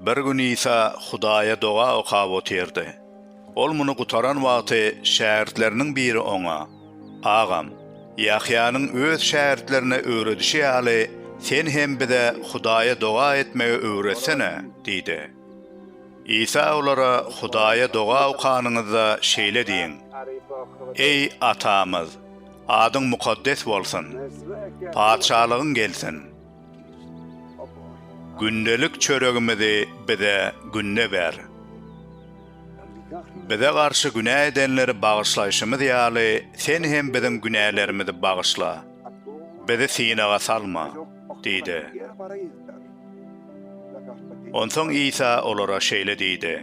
Bir gün Isa Hudaýa doga okap otyrdy. Ol muny gutaran wagty şägirtleriniň biri oňa, Agam, Ýahýanyň öz şägirtlerine öwredişi ýaly, sen hem bize Hudaýa doga etmegi öwretsene! diýdi. Isa olara, Hudaýa doga okanyňyzda şeýle diýiň, Eý, Atamyz! Adyň mukaddes bolsun. Patyşalygyň gelsin. Gündelik çöregimizi bize günde ber. Bize garşy günä edenleri bagyşlaýşymyz ýaly, Sen hem biziň günälerimizi bagyşla. Bizi synaga salma. Diýdi. Onsoň Isa olara şeýle diýdi,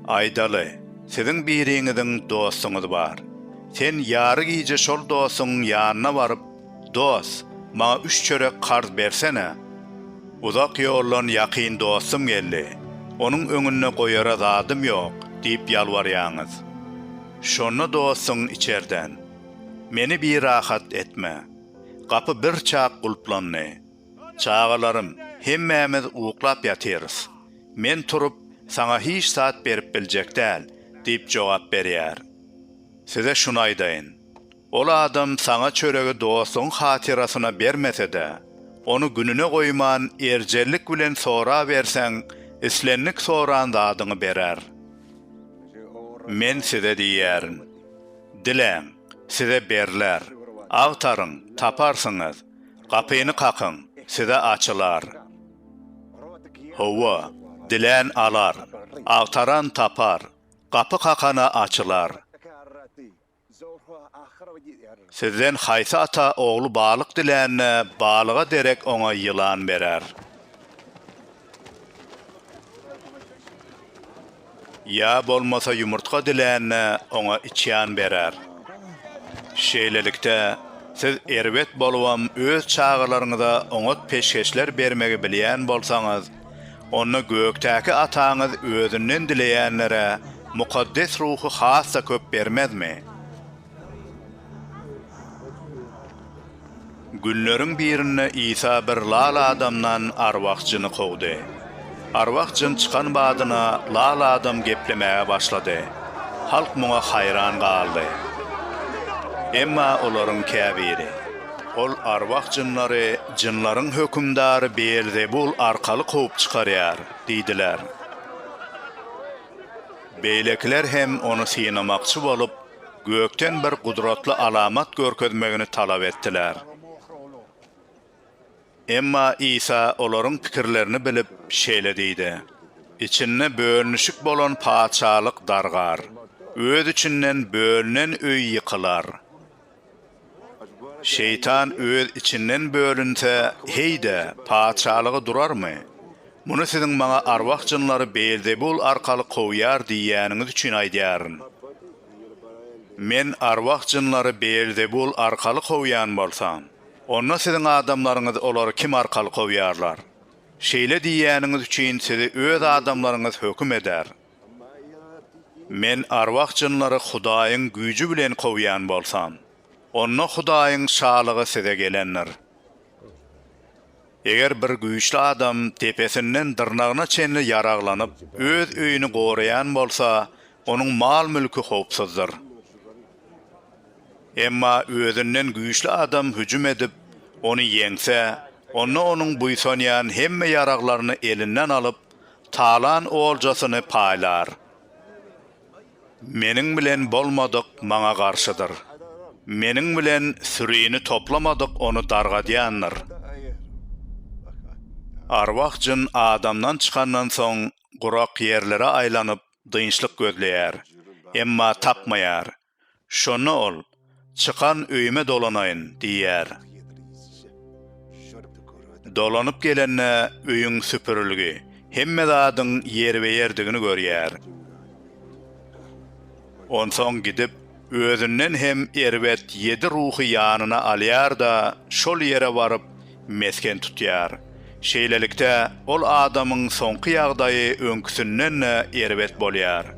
Aýdaly, siziň biriňiziň dostuňyz bar. Sen ýary gije şol dostuňyň ýanyna baryp, Dost, maňa üç çörek karz bersene. Uzak ýoldan ýakyn dostum geldi, onuň öňünde goýara zadym ýok diýip ýalbarýaňyz. Şonda dostuň içerden, Meni birahat etme. Gapy birçak gulplandy. Çagalarym, hemmämiz uklap ýatyrys. Men turup, saňa hiç zat berip biljek däl, diýip jogap berýär. Size şuny aýdaýyn. Ol adam saňa çöregi dostuň hatyrasyna bermese-de, ony gününe goýman, erjellik bilen soraberseň, islendik soran zadyňy berer. Men size diýýärin, Diläň, size berler, agtaryň, taparsyňyz, Gapyny kakyň, size açylar. Hawa, dilän alar, agtaran tapar, gapy kakana açylar. Sizden haýsy ata ogly balyk dilände, balyga derek oňa ýylan berer? Ýa bolmasa ýumurtga dilände oňa içýan berer. Şeýlelikde, siz erbet bolubam öz çagalaryňyza oňat peşgeşler bermegi bilýän bolsaňyz, onda gökdäki Ataňyz özünden dileýänlere mukaddes ruhy has-da köp bermezmi? Günleriň birinde Isa bir lal adamdan arwah jyny kowdy. Arwah jyn çykan badyna lal adam geplemäge başlady. Halk muňa haýran galdy. Emma olaryň käbiri, Ol arwah jynlary jynlaryň hökümdary Beelzebul arkaly kowup çykarýar diýdiler. Beýlekiler hem ony synamakçy bolup, Gökden bir gudratly alamat görkezmegini talap etdiler. Emma Isa olaryň pikirlerini bilip, şeýle diýdi, Içinde bölünişik bolan Patyşalyk dargar, öz içinden bölünen öý ýykylar. Şeýtan öz içinden bölünse, heý-de, patyşalygy durarmy? Muny siziň maňa arwah-jynlary Beelzebul arkaly kowýar diýýäniňiz üçin aýdýaryn. Men arwah-jynlary Beelzebul arkaly kowýan bolsam, onda siziň adamlaryňyz olary kim arkaly kowýarlar? Şeýle diýýäniňiz üçin sizi öz adamlaryňyz höküm eder. Men arwah-jynlary Hudaýyň güýji bilen kowýan bolsam, onda Hudaýyň Şalygy size gelendir. Eger bir güýçli adam depesinden dyrnagyna çenli ýaraglanyp, öz öýüni goraýan bolsa, onuň mal-mülki howpsuzdyr. Emma özünden güýçli adam hüjüm edip, ony ýeňse, onda onuň buýsanýan hemme ýaraglaryny elinden alyp, Talan oljasyny paýlar. Meniň bilen bolmadyk maňa garşydyr. Meniň bilen sürini toplamadyk ony dargadýandyr. Arwah-jyn adamdan çykandan soň gurak ýerlere aýlanyp dynçlyk gözleýär, emma tapmaýar. Şonda ol, Çykan öýüme dolanaýyn diýýär. Dolanyp gelende öýüň süpürilgi, hemme zadyň ýerbe-ýerdigini görýär. Onsoň gidip, özünden hem erbet ýedi ruhy ýanyna alýar-da, şol ýere baryp, mesgen tutýar. Şeýlelikde, ol adamyň soňky ýagdaýy öňküsinden-de erbet bolýar.